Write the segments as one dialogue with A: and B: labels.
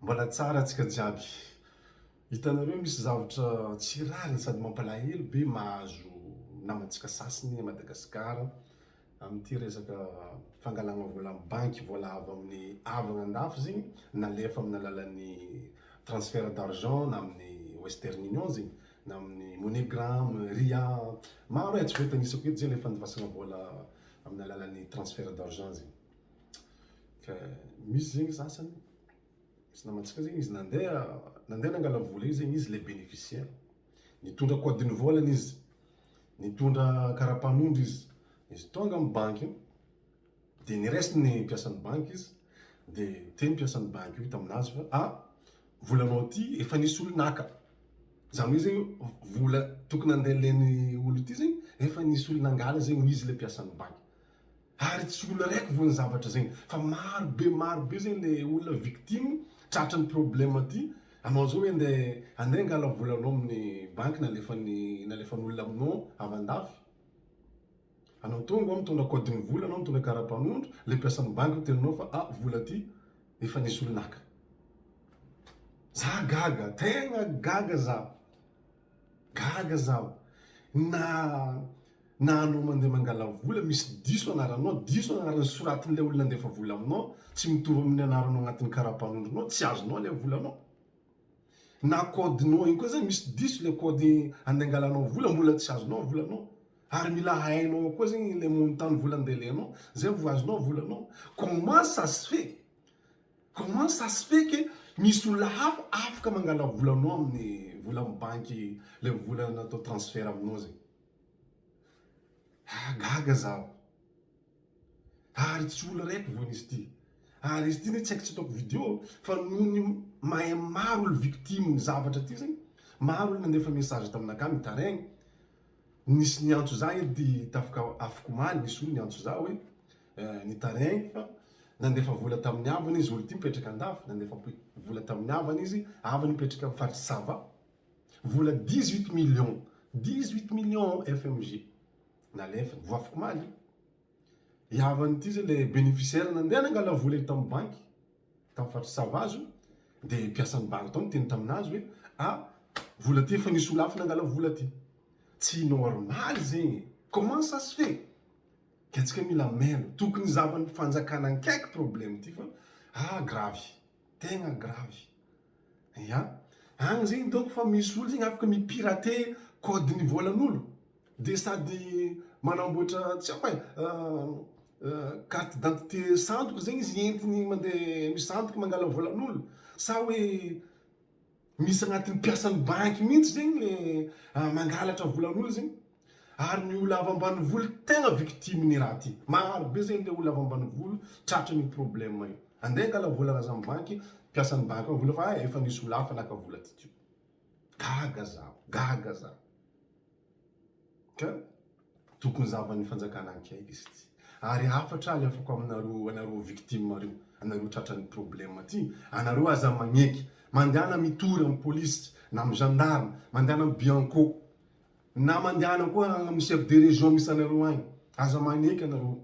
A: Mbola tsara tsika jiaby. Hitanareo misy zavatra tsy rariny sady mampalahelo be mahazo namantsika sasiny à Madagascar amin'ity resaka fangalana vola amin'ny banky vola avy amin'ny havana andafy zegny nalefa amin'ny alalan'ny transfert d'argent na amin'ny western union zegny na amin'ny money gram, ria, maro e tsy voatanisako eto zegny le fandivasana vola amin'ny alalan'ny transfert d'argent zegny. Ka misy zegny sasany, misy namantsika zegny izy nandeha nandeha nangala vola io zegny izy le beneficiaire. Nitondra code ny vôlany izy, nitondra karapanondro izy. Izy tônga amy banky io, de niraisigny ny mpiasan'ny banky izy, de niteny mpiasan'ny banky io taminazy fa ah, volanao ty efa nisy olo naka. Zany hoe zegny vola tokony handeha len'ny olo ty zegny efa nisy olo nangala zegny hoy izy le mpiasan'ny banky. Ary tsy olona raiky vo ny zavatra zegny fa maro be maro be zegny le olona victime tratran'ny problème ty anao zao hoe nde ande angala volanao amin'ny banky nalefan'ny nalefan'olona aminao avy andafy anao tonga ao mitondra kaodin'ny vola anao mitondra karapanondro le mpiasan'ny banky miteny anao fa ah vola ty efa nisy olo naka za gaga tegna gaga za Gaga zaho. Na na anao mandeha mangala vola misy diso anaranao, diso anaran'ny soratin'ilay olona nandefa vola aminao, tsy mitovy amin'ny anaranao agnatin'ny karapanondronao, tsy azonao ilay volanao. Na kaodinao igny koa zany misy diso ilay kaody andeha angalanao vola mbola tsy azonao ny volanao. Ary mila hainao ao koa zegny ilay montant-n'ny vola andeha alenao zay vao azonao ny volanao. Comment ça se fait? Comment ça se fait que misy olona hafa afaka mangala volanao amin'ny volan'ny banky le vola natao transfert aminao zay? Ah gaga zaho. Ary tsy olo raiky vo nisy ty. Ary izy ty ne tsy aiko tsy ataoko video fa noho ny mahay maro olo victime ny zavatra ty zay maro olo nandefa message taminakahy mitaraigny nisy niantso za edy tafika afaka omaly nisy olo niantso za hoe Nitarihiny fa nandefa vola tamin'ny havany izy, olon-tiany mipetraka an-dafy, nandefa vola tamin'ny havany izy, havany mipetraka amin'ny faritry Sava, vola dix huit millions, dix huit millions FMG nalefiny, voafokomaly io. I havany ity izay ilay bénéficiaire nandeha nangala vola iny tamin'ny banky, tamin'ny faritry Sava izy io, dia mpiasan'ny banky tao niteny tamin'azy hoe a, vola ity efa nisolafana hangala vola ity. Tsy normal zegny e! Comment ça se fait? Diantsika mila mailo. Tokony hizavan'ny fanjakana nkaiky problème ity fa ah gravy. Tegna gravy. Ya. Agny zegny donc fa misy olo zegny afaka mi pirater code ny volan'olo. Dia sady manamboatra tsy haiko e, carte d'identité sandoka zegny izy entiny mandeha misandoka mangala volan'olo. Sa hoe. Misy agnatin'ny mpiasan'ny banky mihitsy zegny le mangalatra volan'olo zegny ary ny olo avy ambanivolo tegna victime ny raha ty. Maro be zegny le olo avy ambanivolo tratry ny problème io. Ande angala vola ana za mibanky, mpiasan'ny banky ao vola fa hay efa nisy olo hafa naka vola ty teo. Gaga zaho, gaga zaho. Ka tokony zavan'ny fanjakana akaiky izy ity. Ary hafatra alefako aminareo anareo victimes reo, anareo tratran'ny problème ty, anareo aza magneky, mandehana mitory amin'ny polisy na amin'ny gendarme, mandehana amin'ny bianco, na mandehana koa amin'ny chef de région misy anareo agny, aza magneky anareo,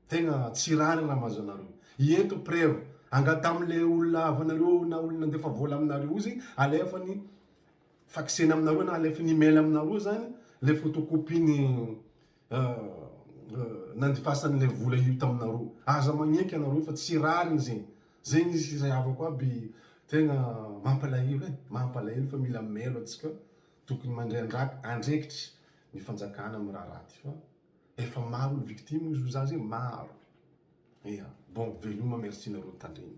A: tegna tsy rariny raha mahazo anareo. Ento preuve, angataho amle olona havanareo na olona nandefa vola aminareo io zegny alefany. faxena aminareo na alefa ny email aminareo zany le photocopie ny nandifasany le vola io taminareo aza magneky ianareo fa tsy rariny zegny zegny izy sy zay havako aby tegna mampalahelo e mampalahelo fa mila mailo atsika tokony mandray andraki- andraikitry ny fanjakana am raharaha ty fa efa maro ny victime ozy oza zay maro ia bon veloma merci nareo nitandregny.